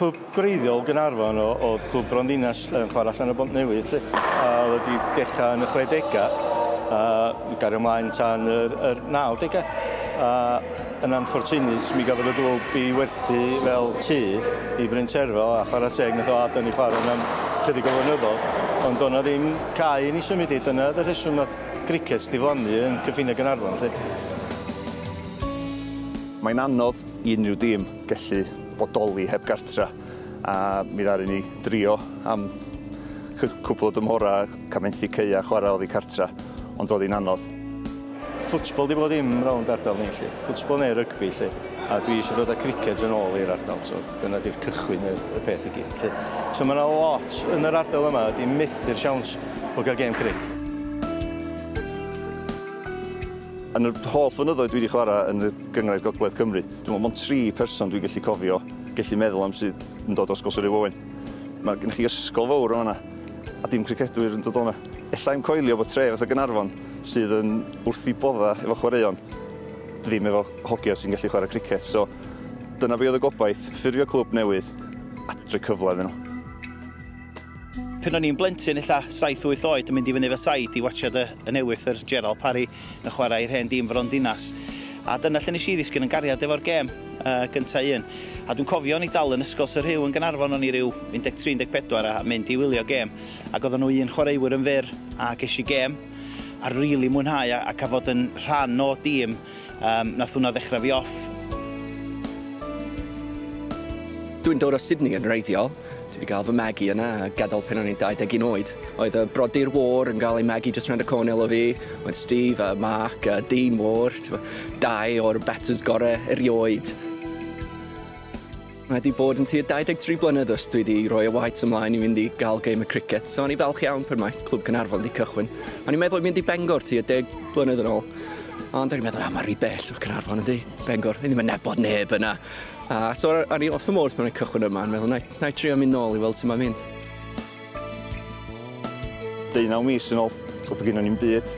Clwb greiddiol Gynarfon o, oedd clwb Fronddinas yn chwarae allan o Bont Newydd, lle, a oedd wedi dechrau yn y 60au, a gario ymlaen tan yr, yr 90au. A yn anffortunus, mi gafodd y glwb i werthu fel tu i Bryn Terfel, a chwarae teg, nath o Griced diflannu yn cyffiniau Gaernarfon 'lly. Mae'n anodd i unrhyw dîm gallu bodoli heb gartra a mi ddaru ni drio am cwpl o dymhorau cael methu caeau chwarae oddi cartra ond roedd hi'n anodd. Ffwtbol 'di bob dim rownd ardal ni 'lly, ffwtbol neu rygbi 'lly a dwi eisiau dod â criced yn ôl i'r ardal so. Dyna ydy'r cychwyn y, y peth i gyd. So mae yna lot yn yr ardal yma ydy methu'r siawns o gael gêm cric. Yn yr holl fynyddoedd dwi wedi chwarae yn y gyngrair Gogledd Cymru, dwi'n meddwl mond tri person dwi'n gallu cofio, gallu meddwl am sydd yn dod os gosod ei wowen. Mae gennych chi ysgol fawr o'na, a dim cricedwyr yn dod o'na. Ella i'm coelio bod tre fatha Gynarfon sydd yn wrth i bodda efo chwaraeon, ddim efo hogiau sy'n gallu chwarae cricet. So, Dyna fi oedd y gobaith, ffurfio clwb newydd a droi cyfle iddyn nhw. Pan o'n i'n blentyn, ella 7-8 oed, yn mynd i fyny fy said i watsiad y, y newydd, yr Gerald Parry yn chwarae i'r hen dîm Fron Dinas. A dyna lle nes i ddisgyn yn gariad efo'r gêm uh, gyntaf un. A dwi'n cofio ni dal yn ysgol Sir Rhyw yn Ganarfon o'n i ryw 13-14 a mynd i wylio gêm. Ac oedden nhw un chwaraewyr yn fyr a ges i gêm a rili really mwynhau a, a cael fod yn rhan o dîm Yym, nath hwnna ddechra fi off. Dwi'n dod o Sydney yn wreiddiol. Dwi 'di ga'l fy magu yna a gadal pan o'n i'n 21 oed. Oedd y brodyr Wâr yn ga'l eu magu jyst rownd y cornel o fi. Oedd Steve a Mark a Dean Wâr, t'mo', dau o'r batws gore erioed. Mae 'di bod yn tua 23 blynedd ers dwi 'di rhoi y weights ymlaen i fynd i gael game y cricket, so o'n i falch iawn pan mae Clwb Cynarfon 'di cychwyn. O'n i'n meddwl i mynd i Bengor tua deg blynedd yn ôl, ond o'n i'n meddwl, na, mae rhy bell o Cynarfon yndi, Bengor, ni ddim yn nabod neb yna. A so o'n i wrth fy modd pan o'n cychwyn yma, yn meddwl, na i trio mynd nôl i weld sut mae'n mynd. Deunaw mis yn ôl, so doedd gynnon ni'm byd.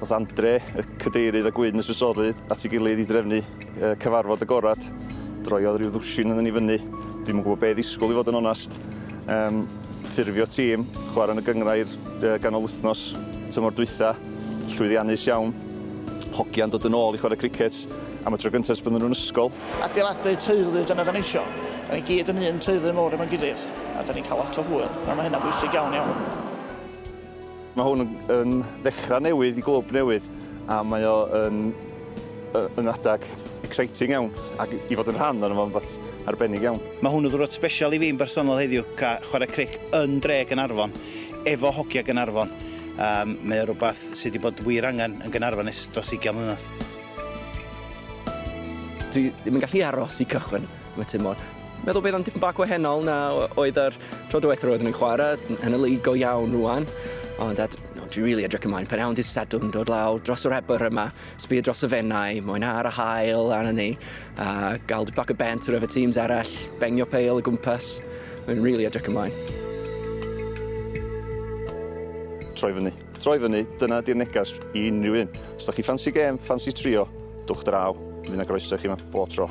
Daeth Andre, y cadeirydd a gwyn y swysorydd at ei gilydd i drefnu cyfarfod agorad. Droiodd rhyw ddwsin yn ni fyny. Dim yn gwybod beth ddisgwyl i fod yn onest. Um, ffurfio tîm, chwarae yn y gyngrair ganol wythnos tymor dwytha, llwyddiannus iawn. Hogian dod yn ôl i chwarae cricet am y tro gyntaf ers bydden nhw'n ysgol. Adeiladu teulu, dyna da ni isio. Da ni gyd yn un teulu mor efo'n gilydd, a da ni'n cael lot o hwyl, a mae hynna'n bwysig iawn iawn. Mae hwn yn yn ddechrau newydd i glwb newydd a mae o yn yy yn adeg exciting iawn ac i fod yn rhan ohono fo'n rwbath arbennig iawn. Mae hwn yn ddiwrnod sbesial i fi'n bersonol heddiw, ca- chwarae cric yn dre Gaernarfon, efo hogia Gaernarfon. Yym mae o rwbath sy' 'di bod wir angen yn Gaernarfon ers dros ugian mlynedd. Dwi ddim yn gallu aros i cychwyn. y tymor. Meddwl bydd o'n dipyn bach gwahanol na oedd yr tro diwethaf roedd yn chwarae yn y lig go iawn rwan. Ond at, no, dwi'n rili edrych ymlaen pan awn dydd Sadwrn dod lawr dros yr ebr yma, sbio dros y fennau, moyn ar y hael arna ni, a gael dipyn bach o bent ar efo teams arall, bengio peil y gwmpas. Mae'n rili edrych ymlaen. Troi fyny. Troi fyny, dyna ydy'r neges i unrhyw un. Os da chi ffansi gêm, ffansi trio, dwch draw, fydd na groeso i chi yma bob tro.